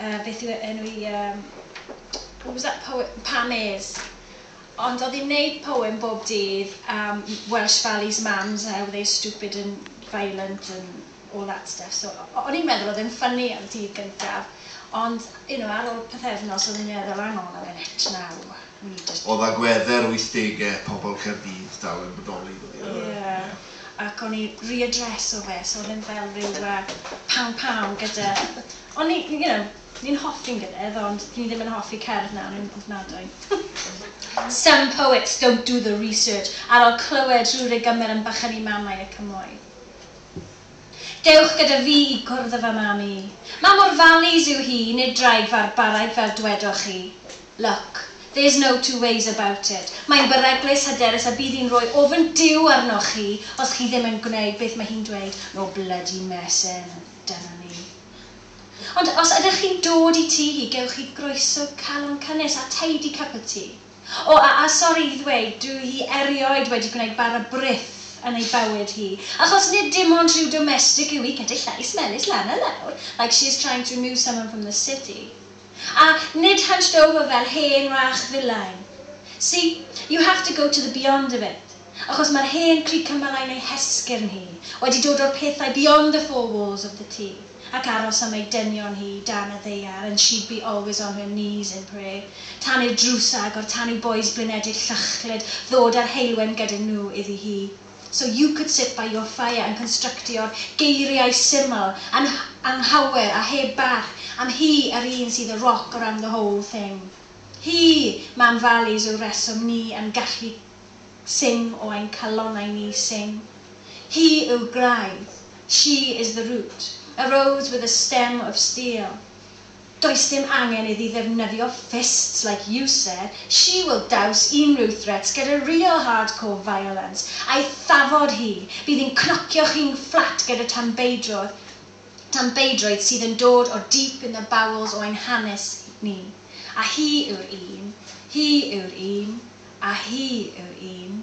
uh, beth yw e- enw i, um, what was that poem? Pam Ayres. Ond oedd hi'n neud poem bob dydd am Welsh Valley's mams, how they stupid and violent and all that stuff. So, o'n i'n meddwl oedd e'n ffynnu am dydd gyntaf, ond, you know, ar ôl pethefnos o'n i'n meddwl, hang on a minute, now, we need to... Oedd agwedde'r 80au pobl Caerdydd dal yn bodoli, dod i Yeah. ac o'n i riadreso fe so oedd e'n fel ryw yy paw paw gyda o'n i you know ni'n hoffi'n gilydd ond ni ddim yn hoffi cerdd nawr yn ofnadwy. Some poets don't do the research ar ol clywed rhyw rygymer am bychyni mamau y cymoedd. Dewch gyda fi i gwrdd â fy mam i. Mam o'r valleys yw hi, nid draig farbaraig fel dwedoch chi. Look, there's no two ways about it, mae'n beryglus, hyderus a bydd hi'n rhoi ofn Duw arnoch chi os chi ddim yn gwneud beth mae hi'n dweud, no bloody messing, a dyna ni. Ond os ydych chi'n dod i tŷ hi, gewch chi groeso calon cynnes a tidy cup of tea. O, a, a sori i ddweud, dyw hi erioed wedi gwneud bara brith yn ei bywyd hi, achos nid dim ond rhyw domestic yw hi gyda llais melys lan a lawr, like she is trying to remove someone from the city. A nid hunched over fel hen wrach filain. See? You have to go to the beyond of it. Achos mae'r hen crug cymylau'n ei hesgyrn hi, wedi dod o'r pethau beyond the four walls of the tŷ, ac aros am ei dynion hi dan y ddaear and she'd be always on her knees in prayer, tan i'r drws agor, tan i bois blinedig llychlyd ddod â'r heulwen gyda nhw iddi hi. So you could sit by your fire yn constructio'r geiriau syml, an- anghawer a heb barch am hi yr un sydd y rock around the whole thing. Hi, Mam Valleys yw'r reswm ni yn gallu sing o ein calonnau ni sing. Hi yw graidd. She is the root. Arose with a stem of steel. Does dim angen iddi ddefnyddio fists like you said, she will douse unrhyw threats gyda real hardcore violence, a'i thafod hi, bydd hi'n cnocio chi'n fflat gyda tanbeidrodd, tanbeidroedd sydd yn dod o deep in the bowels o ein hanes ni, a hi yw'r un, hi yw'r un, a hi yw'r un.